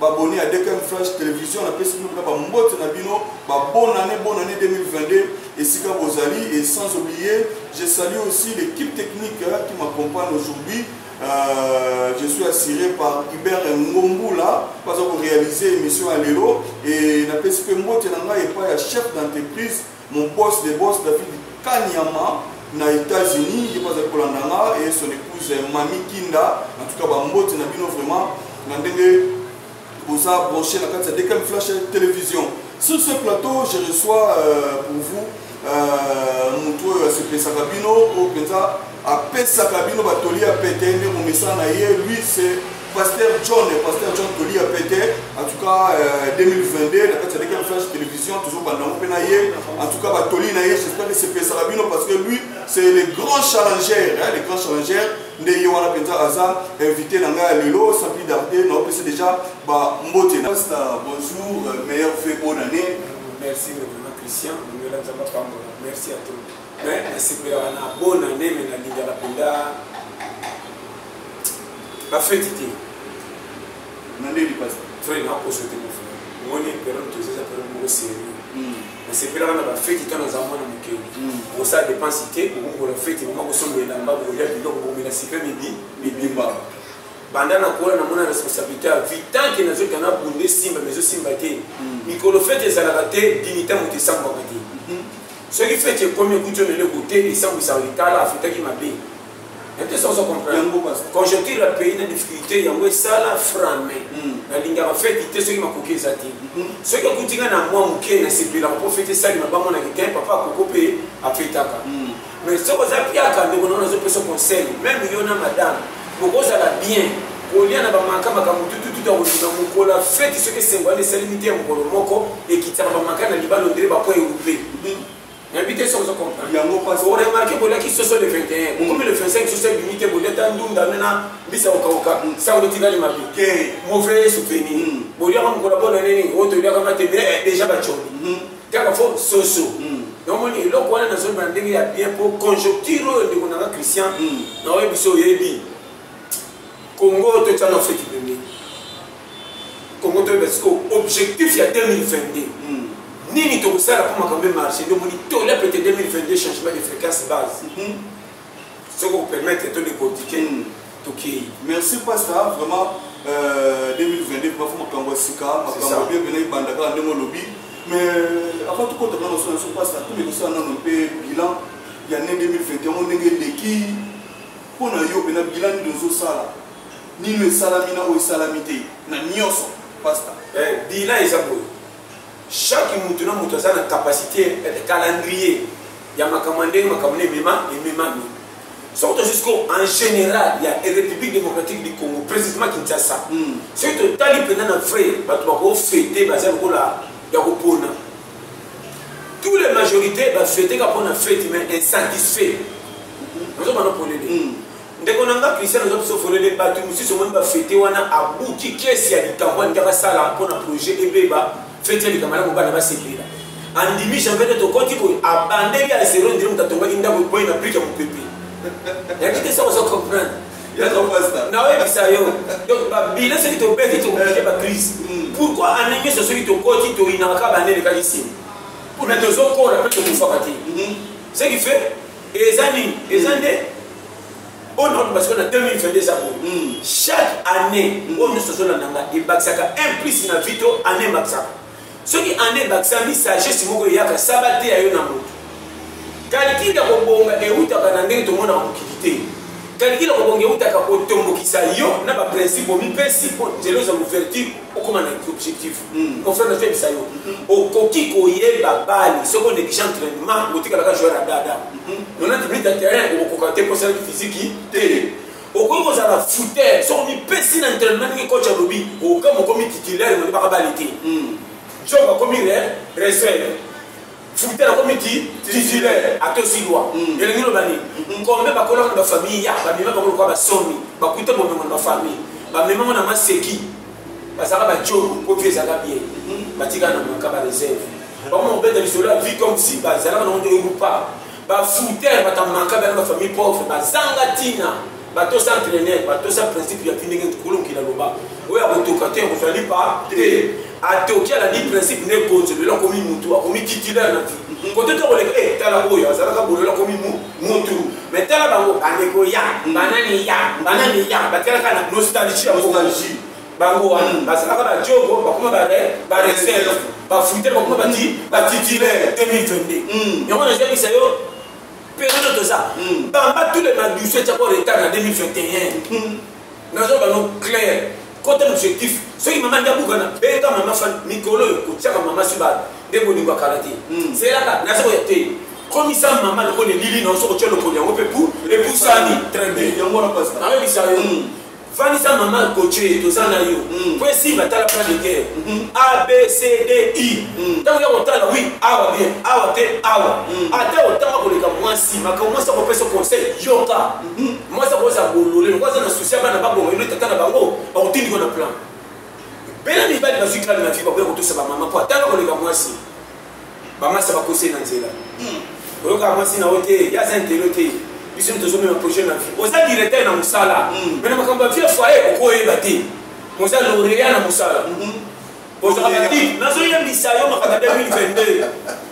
baboni ya dkm flash television napesi bino mpena bambote na bino babonane bonane 2022 esika bozali et sans oublier je salue aussi l'équipe technique qui m'accompagne aujourd'hui Euh, je suis assuré par Hubert Ngombula baza korealize émission ya lelo e napesi mpe mbote na ngai epai ya chef d'entreprise Mon boss de boss David Kanyama na États-Unis, il passe pour l'Andanga et son épouse Mami Kinda. En tout cas, bah, mbote na bino vraiment. Na ndenge boza branché na kati ya DKM Flash Télévision. Sur ce plateau, je reçois euh, pour vous euh, moto oyo asepesaka bino oyo mpenza apesaka bino batoli ya pete nde momesana na ye lui se pasteur john pasteur john toli ya pete en tout cas euh, 2022 na kati ya leki ya flash télévision tozobanda yango mpe na ye en tout cas batoli na ye j'espère esepesaka bino parce que lui c'est le grand challenger hein, le grand challenger nde ye wana mpenza aza invité na ngai ya lelo sampli darde naopesi déjà bambote na pasta bonjour euh, meilleur fait bonne année merci vraiment christian nzambe apambola merci à tout Mais nasepelaka na bonne année mais nalingaka mpenza bafeti te. Na ndenge lipasi. Vrai nakoso te mon frère. Omoni periode toza eza periode moko sérieux. Hmm. nasepelaka na bafeti ntango naza mwana moke bokosala hmm. depense te bokokola feti boma kosomba elamba bokolia biloko bokomela sika mibi mibimba banda nakola namona responsabilité ya vie tanke nazokita na bunde esimba mais ezosimba te hmm. mikolo feti ezalaka te dignité moto esambwaka te soki feti ekomi okuti yo na eloko te esambwisaka likala afutaki mabe ete sozo comprendre conjoncture ya pays na difficulté yango esala frame hmm. nalingaka feti te soki makoki eza te hmm. soki okuti nga na mwa moke nasepelaka mpo feti esalima bamonaki te papa akoko mpe afetaka hmm. mais soki oza piaka ndeko nao nazopesa conseil meme yo na madame Bokozala bien kolia na bamaka makambo tututu ya koluna mokolo ya feti soki esengo wana esalemi te ya mokolo moko ekitisaka bamaka na libala ondire bapo erupe nayebi te soki ozokompremarke boliaki soso le 21 bokomi le 25 soso ebimi te bolia ta ndunda nena mbisa kokauka sango etikali mabe mauvais souvenir boliaka mokolo ya bona nini oyo toliaka mate deja baconi kaka fo soso namoni hmm. eloko wana nazoloba na ndenge ya bien mpo conjoncture oyo ndeko nanga christian hmm. naoye biso oyebi congo totyana feti pembe congo toyeba siko objectif ya 2022 hmm. nini tokosala mpo makambo emarche nde omoni tola pete 2022 changement de fréquence base soki opermettre to décortiquer mm. tokei merci pasta vraiment euh, 2022 bafu makambo ya sika makambo bie bena ebanda kaka ndenge olobi mais avant tokota nano so naso pasta tomekosala nano mpe bilan ya ne 2021 yango ndenge eleki mpo na yo mpena bilan nini ozosala nini esalami na oyo esalami te na nyonso pasta eh, bilan eza boye chaque mutu na mutu aza na capacité eh, calendrier ya makambo ya ndenge makambo na emema ememami soki tozwi sikoyo en général ya république démocratique du congo précisément kinshasa hmm. soki totali mpenza na vrai bato bakofete baza lokola ya kopona tous les majorités bafeteka mpo na fete mais insatisfait nazobana polele ndeko na nga christian oza biso folele bato mosusu omoni bafete wana abuki kesi ya likambo alingi basala mpo na projet ebeba feti ya likambo yango bana basepela andimi janvete tokoti boye abandeli ya zero ndiri moto atongaki ndako ekwei na brike ya mopepe yangi te soko oza comprendre naoyebisa yo donc babile soki tobeti tokokike bacrise hmm. pourkui ane nyonso soki tokoti toyinaka kaka bande elekaki nsima mpona tozokola mpe tokufaka te hmm. ce qui fait eza nini eza nde oyo nakoba sikoyo na 2022 eza boye hmm. chaque année oyo nyonso tozolanda nga ebakisaka un plus na vie to année ebakisaka soki année ebakisami sagesse moko eyaka saba te ya yo na moto kalkile ya kobonga ewutaka na ndenge tomonaka mokili te kalkile ya kobonga ewutaka kotombokisa yo na baprincipe omipesi mpo nzela eza ouverture okoma na objectif hmm. confiance na febisa yo okoki koyeba bale soki onekisha entrainement otikalaka joueur ya dada nona tiblita terrain okokoka te kosalaki fiziki te okoki kozala fouter soki omipesi na entrainement ndenge coach alobi okama okomi titulaire nondibaka bale te job akomi reserve Fouter la komi ti titulaire atosi loi mm. elingi loba nini mm-hmm. kombe bakolaka na bafamille ya bamema bango lokola basomi bakuta bomengo na bafamille bamemango na maseki bazalaka bajogo mpo vie ezalaka bien mm-hmm. batikala na maka bareserve bango mobeta lisolo ya vie comme si bazalaka nango nde erupa Ba fruiteurs batamaka bana ba famille pauvre bazanga tina batosa entraîneur batosa principe ya kindenge tukulungi na loba oyo akotoka te kozali pa te atoki alandi principe ne konzo lelo akomi mutu akomi titulaire na vie kote to koleka e tala oyo azalaka bolelo akomi mutu mais tala bango bandeko ya banani ya banani ya batalaka na nostalgie ya nostalgie bango wana bazalaka ba jogo bakoma ba ba reserve ba fuite bakoma ba ti ba titulaire 2022 yango na jabisa yo période toza hmm. bamba tous les madouce tya ko retard na 2021 hmm. nazo bano clair kota na objectif soki mama nda bukana benga mama fan mikolo oyo kotyaka mama sibala nde bolingo akala te hmm. zelaka naza koya te komisa mama lokola elili na oso kotya lokolo yango mpe pu epusani très bien yango wana pasi nayebisa yo vandisa mama coche toza na yo mm. po esimba tala plan de guerre mm-hmm. a b c d i ntango mm. ya kotala wi awa bien awa te awa mm. ata otanga koleka mwasi makambo mwasi akopesa conseil yoka mm-hmm. mwasi akoza bolole lokola aza na susi ya bana babonga elo tata na bango bakotindiko na plan bela mibali bazwi kala na vi bakoya kotosa bamama po atanga koleka mwasi bamasa bakose na nzela hmm. oyoka mwasi na yo te ye aza ntelo te biso mi tozomema projet na vie oza directeur na mosala hmm. me na makambo ya vie foye okoyeba te oza laurea na mosala hmm. ozalaka nazoyebisa yo makambo ya 2022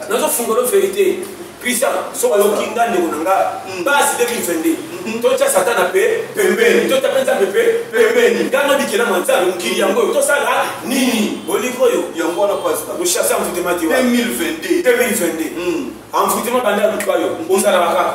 nazofungolo verité Christian, soki oyoki nga ndeko na nga basi 2022 totya satana mpe pembeni totya mpe nzambe mpe pembeni nga nabikela mwa nzambe mokili yango oyo tosala nini bolingi oyo yango wana pasta oshase envoutema te 2022 envoutema banda luka yo ozalaka kaka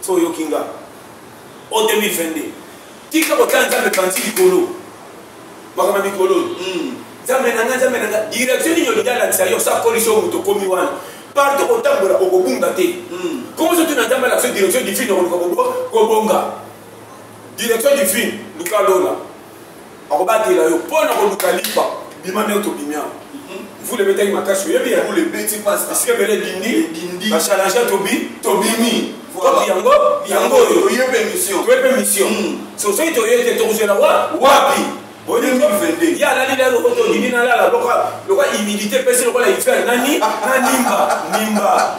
so oyoki nga o 2022 tika kotala nzambe panzi likolo makambo ya mikolo oyo hmm. nzambe na nga nzambe na nga direction nini olingi alakisa yo sa polisi oyo moto okomi wana partout kotambola okobunga te nkombo soki na nzambe alakisa direction divine okoluka kobonga direction divine luka lola bakobatela yo mpo na koluka lipa bima ndenge tobimi yango mvula ebetaki makasi oyebi yango ebeti mpasi esika ebele edindi bachalenge tobi tobimi toki yango yango oyo toyepe mission toyepe mission hmm. so soki toye te tokozela wa wapi ye alali lelo oyo tondimi nalala loka loka humidité mpesi lokola hiver nani nanimba nimba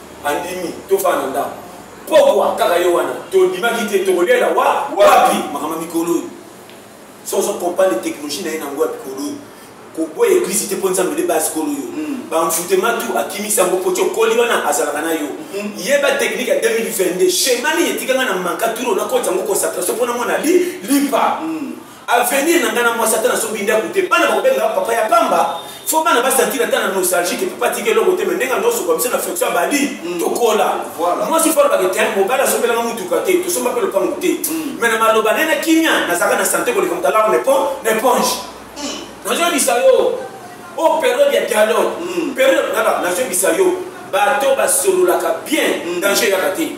andimi tofaa na ndako pokwa kaka ye wana tondimaki te tokolela wa wapi makambo mikolo oyo so ozo comprendre technologie na ye nango ya mikolo oyo koboya eglise te mpo nzambe nde base kolo yo hmm. bamfutema tu akimisi yango mpo ti okoli wana azalaka na yo hmm. yeba technique ya 2022 schéma nini etikanga na manka turo nakoti yango concentration mpo namona lipa hmm. avenir na ngai na mwasi ata nasombi ndako te bana bakobenga nga papa ya pamba fo bana basantira ata na nostalgie ke papa atika eloko te me ndenge nosokwa biso na fonction abadi mm. tokola mwasi fo alobaka te mobali asombelanga motuka te tosomba mpe lopango te me mm. na maloba naye na kimia nazalaka na sante koleka moto alarme na eponge mm. nazoyebisa yo o oh, periode ya dialogue periode nazobisa yo bato basololaka bien danger yaka te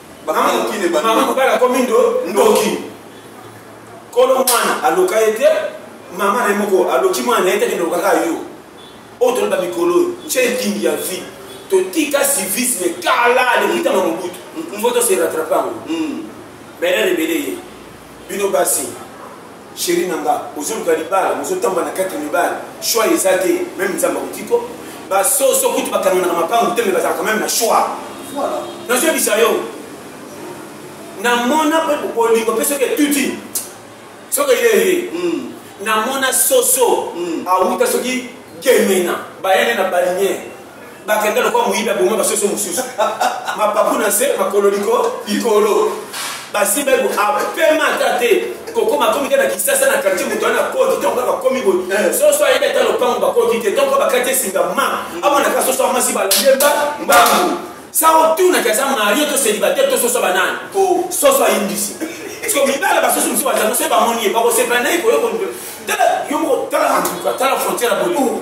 mama mobali akomi ndoki kolo mwana aloka ye te mama na ye moko aloki mwana na ye te kende lokaka yo oyo toloba mikolo oyo ntie etingi ya vie totika civisme kala lekitama mobutu mpo tose rattrape yango bele rebele ye bino basi Chérie na nga ozoluka libala mozotamba na kati mibali choix eza te meme nzambe akotiko basoso kutu bakanganaka mapangu te me bazalaka meme na choix nazoyebisa yo namona mpe bolingo mpe soki etuti soki eyeye hmm. namona soso hmm. awuta soki gemena bayene na baliniere bakenda lokola moyibi aboma basoso mosusu mapapu na nse makolo likolo basimba eko apema ata te kokoma komi te na kisasa na quartier moto wana akoti ntango kaka komi boye eh. soso ayebi ata lopango bakoti te ntango bakati esinga ma amonaka soso amasi balemba mbangu sa otunaki aza mario to célibataire to soso banani oh. soso ayindisi parceke mibala basusu mosusu bazanga soki bamoni ye bakosepela na ye koyoko tala yo moko tala tala frontière ya bolingo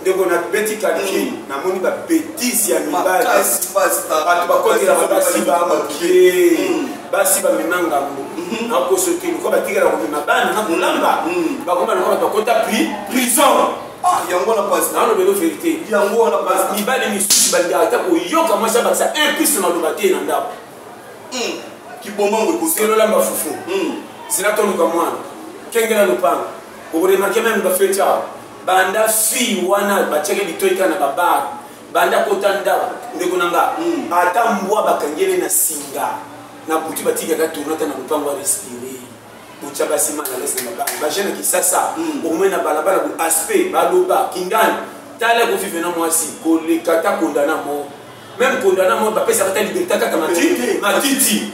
ndeko na beti kalki mm. namoni babetise ya mibali bato bakotelaka basi bamokie mm. basi bamema ngambo mm-hmm. nakoso te lokola batikala komema bana na kolamba mm. bakoma lokola bakota prison ah, yango na pasi nano belo verité yango wana pasi mibali misusu balingaka ata koyoka mwasi abakisa impiste maloba te na ndako kibombango ekoselola mafufu zela toluka mwana kengela lopango Oko remarquer meme ba fete awa banda fille wana batiaki litoyi kaka na ba bar banda kota ndako ndeko na nga mm. ata mbwa bakangeli na singa na butu batikaka tourna ata na lopango ya respire botya basi mana lese na mabanga bajeune ya kisasa mm. omoi na balabala bo aspect baloba kingani tala kovive na mwasi koleka ta kondana mo meme kondana mo bapesaka ta liberté kaka matiti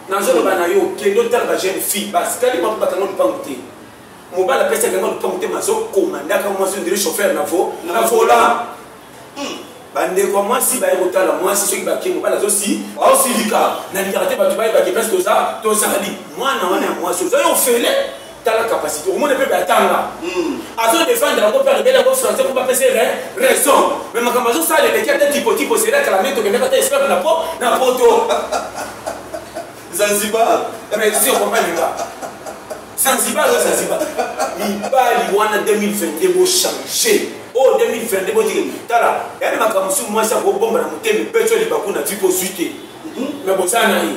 nazoloba na yo kende otala ba jeune fille basikali mwa bakanga lupangu te mobali apesi akanga lupangu te mazokoma ndaka mwasi ondire chauffeur na vo na vola hmm. bandeko ya mwasi baye kotala mwasi soki bake mobali azosi aosilika nalingaka te bato bayebake place toza tozali mwana wana ya mwasi oza yo ofele tala capacité omoni mpe batanga hmm. azo defendre yango mpe alobeli yango français mpo bapesa ye raison mais makambo azosala eleki ata tipotipo sela kala nde tokendaka ata esclave na po na poto zanzibar mais si okompani nga zanzibar oyo zanzibar mibali wana 2022 bochange oyo 2022 botiki tala yani makambo mosusu mwasi akobomba na motema epeso libaku na ti kozwi te mais bozala na ye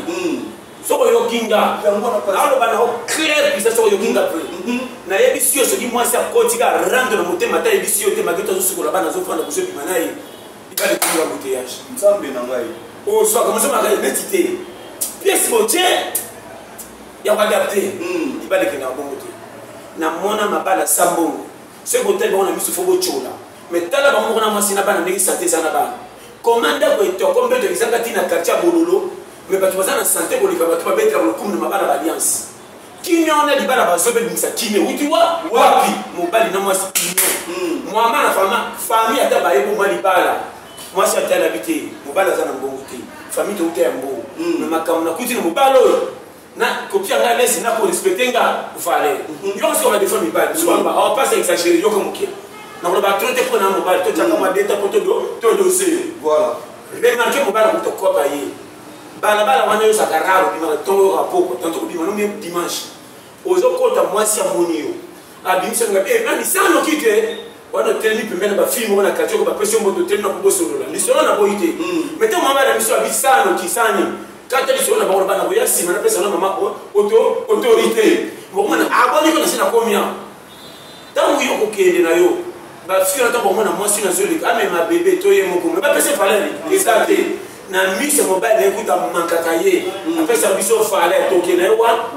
soko oyoki nga yango wana mpo naloba na yo claire bisa soko oyoki nga mpe mhm. nayebisi yo soki mwasi akoti ka rando na motema ata ayebisi yo te mageto azosukola bana azofanda kozobima na ye ikalekiwa boteyage nzambe na ngai ozwaka oh, mozomaka ye neti te pièce botie ya koadapte hmm. ibalekenda bongo te na mwana mabala sa mbongo soki botali bango na miso fo botyola me tala bango moko na mwasi na bana ndenge sante eza na bana Comment ndako etoko mbeto ezanga ti na quartier ya Bololo mais bato baza na sante koleka bato babetela lokumu na mabala ba alliance kimia wana libala bazo bebimisa kimia wuti wa wapi mobali na mwasi kimia hmm. mwama na fama fami ata baye boma libala mwasi atalabi te mobali aza na mbongo te fami touta ya mbongo hmm. na makambo nakuti na mobali oyo na kopia ngai lesi na korespecte nga vale mhm. yo kasi oka defo mibali biso baloba awa mpasi ya exagere yoka moke nakoloba tro te mpo na mobali totyaka mhm. mwa deta mpo todose remarke mobali akuta kopa ye balabala wana yozaka rare obimaka ntongo yoka poko tanto kobima no meme dimanche ozokota mwasi amoni yo abimisa nga eh nani sa noki te wana otelemi pembeni na bafilme moko na quartier oko bapesi yo mboto otelemi na kobosolola lisolo na boyi te hmm. mais ntango mama bana biso abi sa noki sa nini kata lisolo na bango bana koya nsima napesa na mama oto autorité bokomona aboniko ah, nasi nakomi awa ntango yo kokende na yo bafiki na ntango bakomona mwasi nazoleka amema ah, bebe to ye moko me bapesa valere eza te na miso mobali naye kuta mankaka ye hmm. apesa biso valere tokende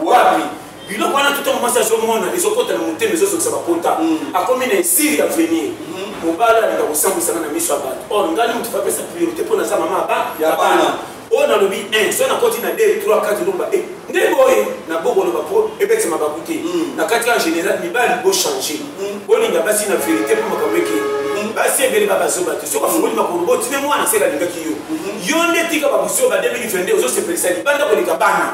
wapi biloko wana tuta mwasi azomona ezokota na motema ezozokisa bapota hmm. akomi na esiri ya venir hmm. mobali alinga kosambwisana na miso ya bato or oh, ngai moto bapesa priorité mpo naza mama ya bana oyo oh, nalobi 1 so nakoti na 2 3 4 lomba e nde boye na bokoloba mpo ebetema baku te hmm. na kati ya général mibali bochange bolinga basi na verité mpo makambo eke basi ebele babazoba te soki afungoli makolo botine mwana se balingaki yo yo nde tika babusi oyo ba 2022 ozosepelisa libanda koleka bana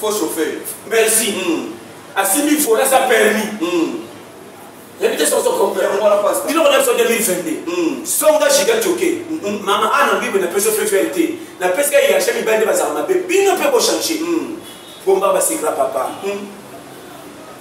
Faux chauffeur. Merci. Mm. Asimbi vola sa permis. Mm. nayebi te soki ozokomprendrebiloko na biso 2022 songa giga joke mama ana bible napesi fefere te napesi ka yacha mibali nde bazala mabe bino mpe bochange bomba basekla papa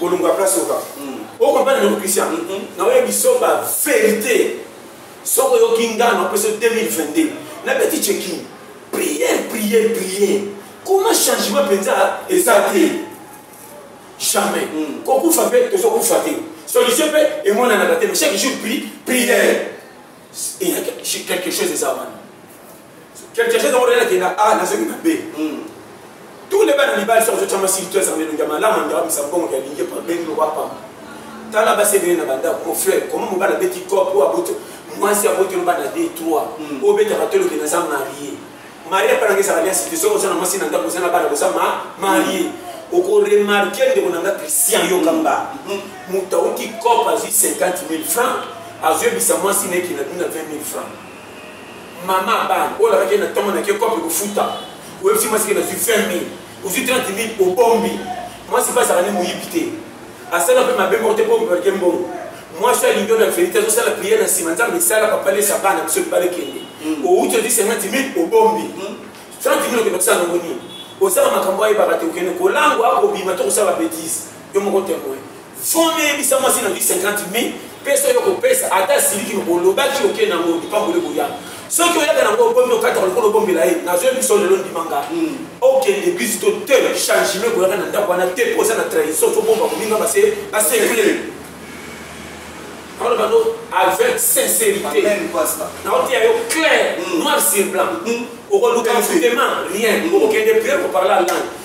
kolongola place oka okomprendre ndeko christian na oyo bisomba verité soki oyoki ngai na opesa 2022 nabeti checking prière prière prière kuna changement mpenza eza te jamais mm. kokufa mpe tozokufa te solution mpe emonanaka te mais chaque jour pri prière quelque chose eza wana Quelque chose amorela kenda A nazongi na B. Hmm. Tous les bana libali soki azotyama sili to ezanga elongi ya malamu anga wabisa mbongo ya lingi epa bengi loba pamba. Tala basi ebele na bandako mon frère comment mobali abeti cop oyo aboto mwasi abotelo bana de trois hmm. oyo obetaka toloke naza marie marie epa nanga ezala liasi te soki oza na mwasi na ndako oza na bana boza marie okoremarke ndeko na nga christian yoka mba hmm. moto auti cop azwi 50 000 francs azoyebisa mwasi nayekina bino na 20 000 francs Maman abana oyo olakaki ye na ntongo na ke kope kofuta oyebisi mwasi ke nazwi 20 mil ozwi 30 mil obombi mwasi mpe azalaka nde moyibi te asala mpe mabe moko te mpo obalike mbongo mwasi alingi oyo na verite azosala priere na nsima nzambe esala papalesa bana biso libala ekende hmm. outi ozwi 50 mil obombi 30 hmm. mil okenda kosala nango nini osala makambo ayebaka te okende kolangwa akobima to kosala babetise yo moko temoin Fond eyebisa mwasi na 50 mi pesa yo kopesa ata asiliki olobaki oke nango lipamboli koya soki oyaka nango obomi okataka lokola obombela ye nazoya biso lelo ndima nga hmm. okende eglise to te changement koyaka na ndako wana te mpo oza na trahison tobomba kolinga base basekle akoloba no avec sincérité naoteya yo clair hmm. noir sur blanc hmm. okoluka mfutema rien okokende priere koparla langue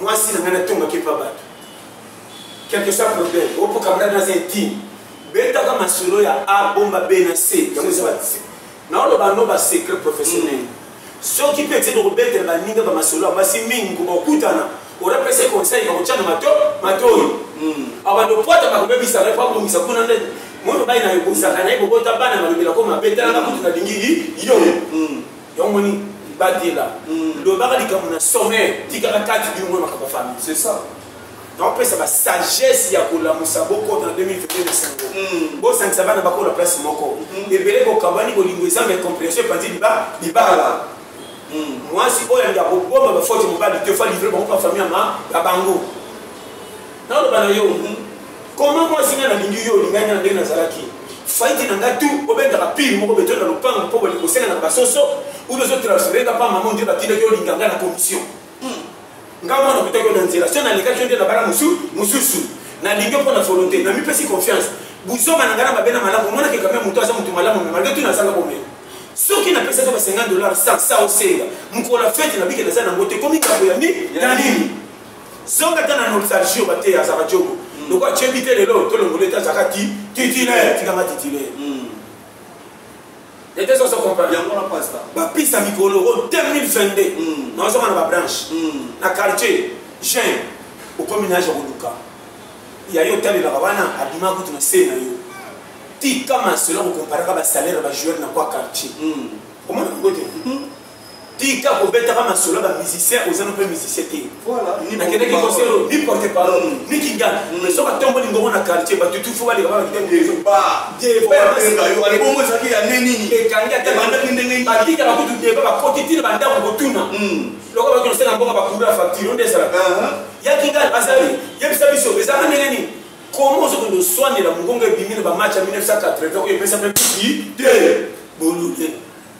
mwasi na ngai natongaki epa bato quelque soit problème opo camarade aza intime betaka masolo ya a bomba b na c yango eza batise naoloba no basecret professionnel mm. soki mpe etini kobetela baninga bamasolo ya basi mingi kobakutana orapesa conseil bakotyana mato matoi mm. abanda opwata bakobebisa ngai mpo abongisa kuna nde moi mobali na yo bozaka na ye kobota bana malobelako mabe talanga kutu nalingi yo mm. yango moni batela hmm. lobaka likambo na sommet tikaka kati bino mona makambo famille c'est ça naopesa basagesse ya kolamusa bokota na 2022 na sango hmm. bosangisa bana bakola place moko hmm. ebele bokabani bolingo eza ma incomprehension epanzi libala mwasi oyo alinga kobomba bafote mobali te fa livre bango pa famille ya bango naloba na yo Comment mwasi nga nalingi yo olingai nga na ndenge nazalaki faite na nga tu obendaka pire moko beto na lopango mpo bolingi kosenga na basoso ube ozotransfere nga mpa mama ndio batindaki olinga nga na commission hmm. nga mwana okutaki yo na nzela so nalekaki yo nde na bala mosusu nalingi mpo na volonté namipesi confiance buzoba na ngai na mabe na malamu omonaki kame moto aza moto malamu me malgre tu nazanga komela soki napesaki ba 50 dollar sa sa osenga mokolo ya fete nabiki naza nango te komi kambo ya nini zonga ata na nostalgie oyo bateya azaka jogo mm. lokola tyebi te lelo tolongola ete azaka ti titulaire tikanga titulaire mm. ete soso comprendre yango na pasta bapisa mikolo o 2022 nazonga na babranche na quartier jean okomi na age ya koluka ya yo otalelaka wana abima kutu na se na yo tika masolo ya kokomparaka basalaire ya bajoueur na kwa quartier mm. omona yango te mm. tika kobetaka masolo ba musicien oza no mpe musicien te nakendeki concert oyo ni porte parole mm. ni kingana mm. mais soki atomboli ngongo na quartier bato tufu baleka babakitebongo ezalaki ya nde nini ekangi atabandaki ndenge batikaka kutu deba bakoti tina bandako kotuna mm. loko baki nosena mbongo bakura facture onde ezalaka uh-huh. ya kingana azali yebisa biso ezalaka ndenge nini komo ozokende oswanela mongongo ebimi na bamatch ya 1980 oyo epesa mpe kuki te bolule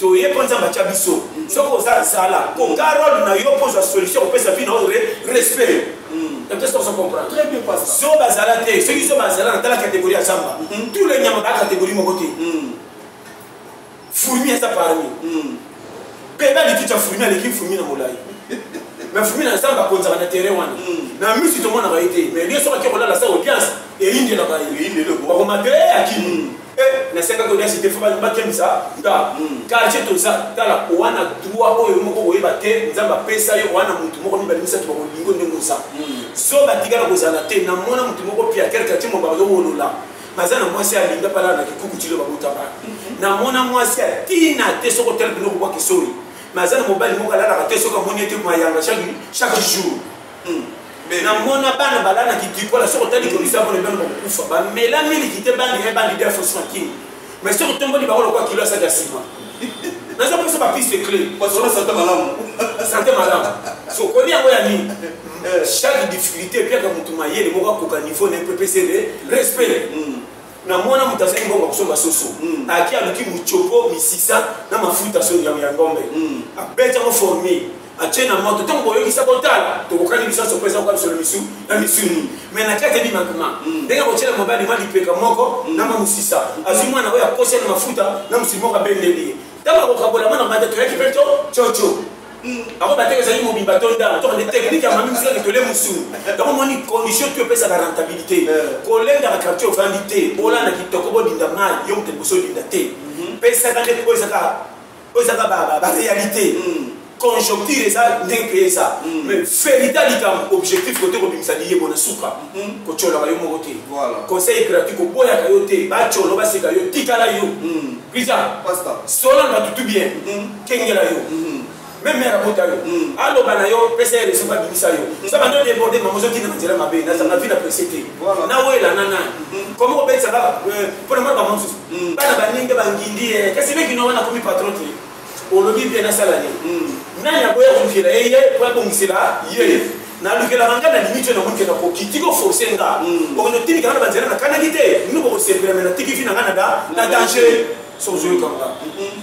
toye mpo nzambe atya biso soki oza zala koka role na yo mpo ozwa solution kopesa vi na yo respect zoba azala te soki zoba azala natala kategorie ya zamba hmm. tout le nyama baa kategorie moko te hmm. fourmi eza parmi hmm. peba likiti ya fourmi aleki fourmi na molai mais fourmi na zamba akonzaka na terrain wana na misi tomonaka ye te mais liyo soki ake kolala sa audience eyindelaka ye bakomata ye akimi Eh, nasekaki olia site fo bakemisa nga quartier toza tala owana droit oyo yo moko koyeba te nzambe apesa yo owana motu moko mibale misato bakolingo ndenge oza zoba tikala kozala te namona motu moko piaker quartier mo bazowolola baza na mwasi alinga pala na kikuku tilo babotaka namona mwasi atina te soko tala biloko bwa kisoi maza na mobali moko alalaka te soki amoni ete mayanga chaque jour na mona bana balana kitikola soki otali komisa mona bana bakokufa bamela miliki te bandi ya bandi def osmakin mais soki otomboli bango lokola kilo asaki ya sima naza mposa bapiste cle sante malamu sante malamu sokoli yango ya nini eh. chaque difficulté epiaka motu mayele moko akoka niveau na ye mpe epesele respect hmm. na mwana moto azali mbongo akosomba soso mm. aki aluki mocopo misisa na mafuta so ya ngombe mm. abeti yango forme atie na moto ntango boyokisa kotala tokokani biso nyonso mpeza koka misolo misu na misuni mai na kati ebimakima mm. ndenge akotyela mobali mwa lipeka moko na mwa mosisa azwi mwana oyo akosi na mafuta na mosili moko abendeli ye ntango akokabola mwana mate toyaki mpe to coco yango bateke ezali mobimba to ndambo to nde teknike ya mami mosika litole mosulu yango omoni condition to epesaka rentabilité kolendaka quartier ofandi te olanda kitoko bodinda mai yo moto liboso odinda te pesaka nde oyo ezaka oyo ezaka baréalité conjoncture eza ndenge mpe eza mais verité ya likambo objectif kote kobimisa liyebo na suka kotyolaka yo moko te conseil gratuit koboyaka yo te batyolo baseka yo tikala yo Prisa, Pasta. Sola na tutu bien. Mm -hmm. Kengela yo. Mm -hmm. Même mère abota yo. Mm. Aloba na yo, pesa yo resuka bimisa yo. Nza bando de borde maman zo kina nzela mabe. Na zanga vie na presete. Voilà. Na wela na na. Mm. Comment obetsa ba euh, pour moi ba mansus. Mm. Bana ba ninga ba ngindi. Kasi meki no wana komi patron te. olobi bien nasala nini hmm. nani akoya kolukela ye ye po abongisela ye nalukelaka ngai na limite na mokenda koki tiki oforce nga hmm. okende otimika nga na banzela nakanaki te bino bokosepela me natiki vi na nga na danger sozoyokanga hmm.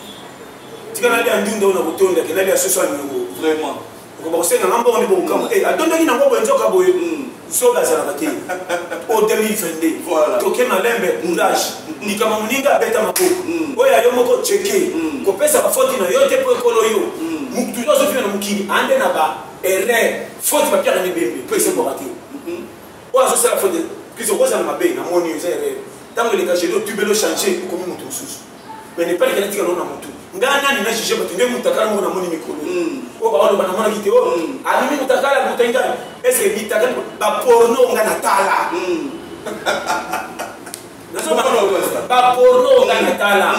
tika nalia ndunda oyo na kotondake nalia soso ya niongo vraiment okoba kosenga nga mbongo nde bokokamwa e atondaki na ngoko enzoka boye mm. zoba azalaka te o 2022 toke malembe courage mm. likama moninga abeta maboko mm. oyo ayo moko cheke kopesa bafoti na yo te mpo ekolo yo moto toujours azofina na mokili ande na ba erreur foti bapiaka mibembe mpo esebwaka te mm-hmm. oyo azosala foti kizokozala mabe na moni yo eza erreur ntango eleka geno tubelo change okomi moto mosusu mais ne pas kena tika na mutu nga nani na juge bato nde mutakala moko namoni mikolo hmm. oyo baoloba namonaki te oyo hmm. abimi ah, mutakala motai ngai eske bitakali baporno nga natala hmm. baporno nga natala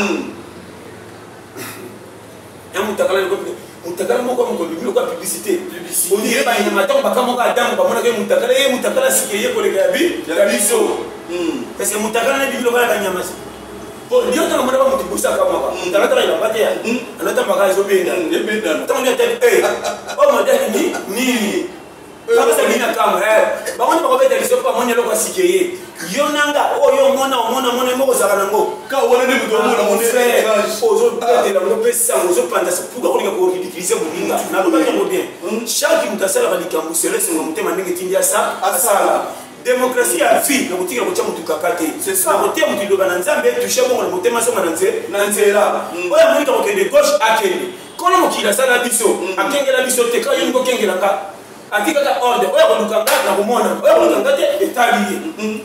ya mutakala loko mutakala moko ya mokolo biloko ya publicité ondire banyama ntango bakamoko adamu bamonaka ye mutakala ye mutakala sika eye koleka ya bi ya biso kasi hmm. mutakala na biloko ya banyama ndio ntango mona bamoto bosi akamaka alataka elamba te alatambaka ezobenda ntango ndio atali oyo madaki nini kabisa bini na kambo bango nde bakobeta biso mpo bamoni eloko asike ye yo nanga oyo oh, omona omona mona moko ozalaka nango ozobetela ngo mpe sango ozopanza sepuka kolinga koridikize moninga nalobaki yango bien hmm. chaque moto asalaka likambo selesonga motema ndenge tindi asala demokrasi ya vie na kotikela kotya motu kaka te na koteya motu liloba na nzambe tushe bongo na motema zonga na nzela oyo amonika kokende gauche akende Kono mokili asala biso, akengela biso te, kaka yoni kokengela nga. Atikaka ordre, oyo akoluka nga na komona, oyo akoluka nga te etali ye.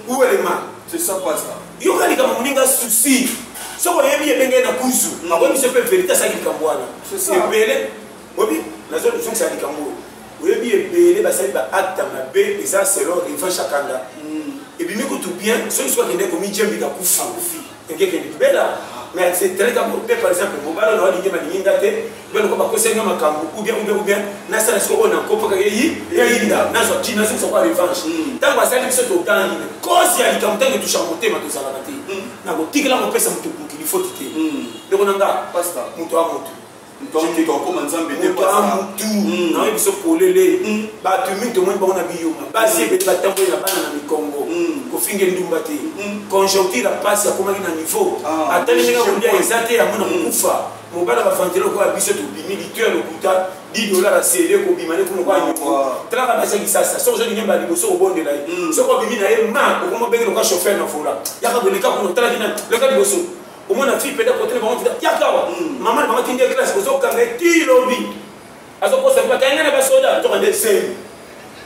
Où est le mal? C'est ça pas ça. Yo ka likambo moninga souci. Soki oyebi ebenge na kuzu, akoyi biso mpe verite asaki likambo wana. Ebele, oyebi, nazo zongisa likambo oyo. Oyebi ebele basali ba acte mabe eza selon Revan Shakanda. Ebimi kutu bien, soki soki akende komijembika kufa. ekeke libela mais c'est très important pe par exemple mobala na walingi balingi nga te bino ko bakosa nga makambo ou bien ou bien ou bien nasala siko oyo nakopaka yeyi yeyinda nazwa ti nazokisa kwa revanche ntango asali biso totangi cause ya likambo ntango etusha motema tozalaka te nakotikela kopesa moto mokili foti te ndeko na nga moto ya moto moto akoma nzambe te mutu hmm. nayebi biso polele hmm. bato mingi tomoni bango na biyuma basi ebele batamboli na bana na mikongo hmm. kofinga endumba te conjoncture ya mpasi akomaki na niveau ah, ata ndenge kolia eza te yango na mokufa mobala bavantele lokola biso tobimi litu ya lokuta di dolar asele kobima ne kuna kwanyoko talaka basi kisasa soki ozongi nyemba liboso obondela ye soki obimi na ye ma okomobenge lokola chauffeur na vola yaka koleka kuna otalaki na leka liboso omona fille peda kote na bango tika yaka awa mama na bango tindi ye classe ozokanga ye ti lobi azokosa mpe bakanga na basoda toka nde zemi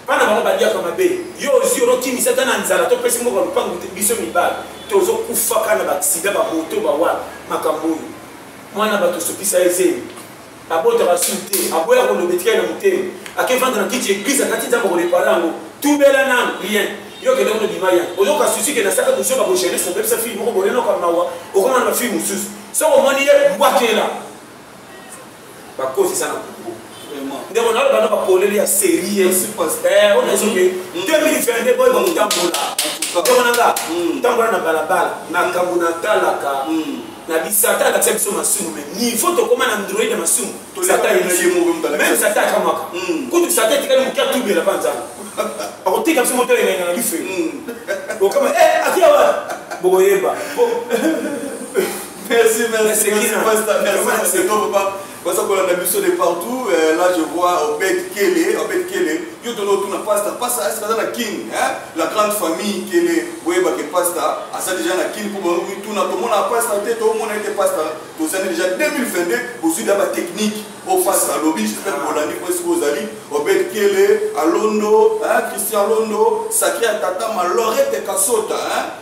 bana bango baliaka mabe yo ozwi olokimisa ata na nzala topesi mboka lopango te biso mibale tozokufaka na baksida bamoto bawana makambo oyo mwana bato osukisa ye zemi abota basusu te aboya koloba etikali na motema akevanda na kiti eglise akati nzambe akorepare yango tubela nanu rien yo kende kuna bima ya ozoka susi ke nasaka bozoba bo jeunesse obebisa fille moko bolenoka mawa okoma na bafille mosusu soki omoni ye mbwakela bakozisa na kuku ndeko na bana bapoleli ya serie eh, oyo nazoke 2022 boye bakotambola ndeko na nga mm. tambola na balabala makambo natalaka mm. na bisata alakisa biso masumu me niveau tokoma na android ya masumu meme sata akamwaka hmm. kutu sata etikali moke atubela mpa nzambe akotika biso moto elenga na bife hmm. okama eh, akiawa bokoyeba merci merci merci merci merci baza kolanda biso de partout euh, là je vois obed kele obed kele yo tona otuna pasta pasta esi baza na kin la grande famille kele boyebake pasta aza deja na kin mpo bamituna tomona pasta te tomona ete pasta tozali deja 2022 bozwi da batechnique oyo pasta alobi jespere bolandi mpo esika ozali obed kele alondo christian londo sakre ya tata malorete kasota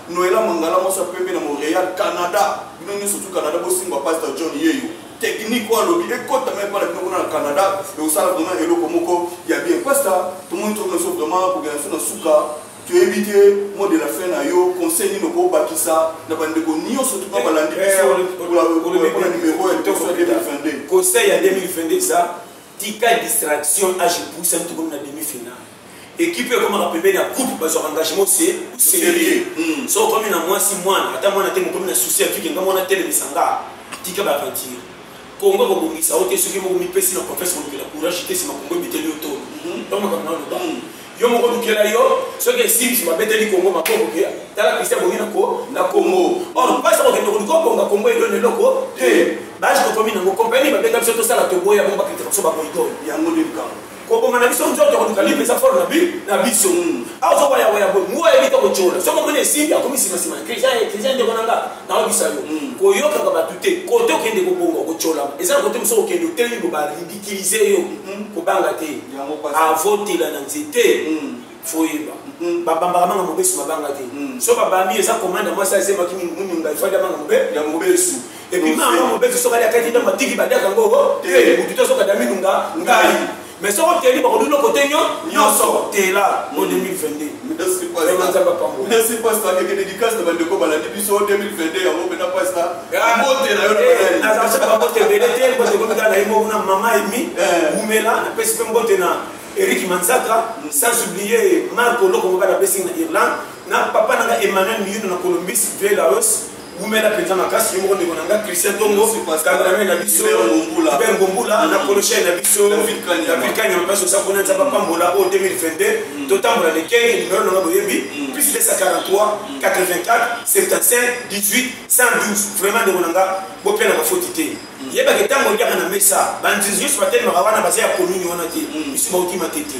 noela mangala mwasi ya pembe na montréal canada bino nyonso tu canada bosimbwa pasta john yeyo technique oyo alobi ekotama epa na bino kuna na canada ekosala vraiment eloko moko ya bien pasta tomoni tokomi biso vraiment kokenda biso na suka toyebi te mot de la fin na yo conseil nini okobakisa na bandeko nyonso tuna balandi bisopona numero ya toso 2022 conseil ya 2022 eza tika distraction age puisa tokomi na demi finale ekipe ekomaka pembeni ya couple bazwaka engagement se serieux hmm. so okomi na mwasi mwana ata mwana te mokomi na souci ya tuke nga mwana telemisa nga tika baventure kongo kobongisa yo te soki moko mipesi na confiance kolukela courage te nsima kongo ebeteli yo to hmm. to makambo na loba hmm. yo moko lukela yo soki esimbi babeteli kongo maboko ke tala kristian bongi na kongo or mpasi kokende koluka obonga kongo eloni eloko te baje tokomi nango kompani babeta biso tosala toboya bongo bakritika biso bakoikoyo yango nde likambo koboma na biso nzoto koluka libre eza fort na biso mm. awa ozoba ya waya boye mua yebi to kotyola soki omoni esimbi akomi nsima nsima kristian ndeko na nga naobisa yo mm. koyokaka bato te kote okende kobonga okotyola eza na kote mosusu okende otelemi bo baridikilize yo mm. kobanga te avotela na nzete foyeba Mm. babambaka manga mobesu babanga te mm. so babambi eza komanda mwasi azemaki mingi muninga ifadi amanga mobe ya mobesu ebima yango mobetu soki aliakaki ntango atiki badiaka yango te motu te soki adaminu nga ngai mais soki oteli bakobi loko te nyo nyonso tela mo 2022merci pasta akeke dédicace na bandeko balandi biso 2022 yango mpena pasta motela yo nazalaka babote ebele te mbote komika na ye moko na mama emi wumela napesi mpe mbote na eric manzaka sans oublier marco loko moka napesi na irlande na papa na nga emmanuel miyuno na colombis vieux laos wumela mpenza makasi yo moko ndeko na nga christian tongo kangalame na biso hubert ngombula na koloshai na biso davilkanyama mpasi oza kuna nzambe apambola oyo 2022 totambola na ekenge nimero nanga boyebi plus 243 84 75 18 112 vraiment ndeko na nga bopela bafoti te yebaka ntango olyaka na mesa banzinzi nyonso batelemaka wana baza ya komini wana te biso bauti mate te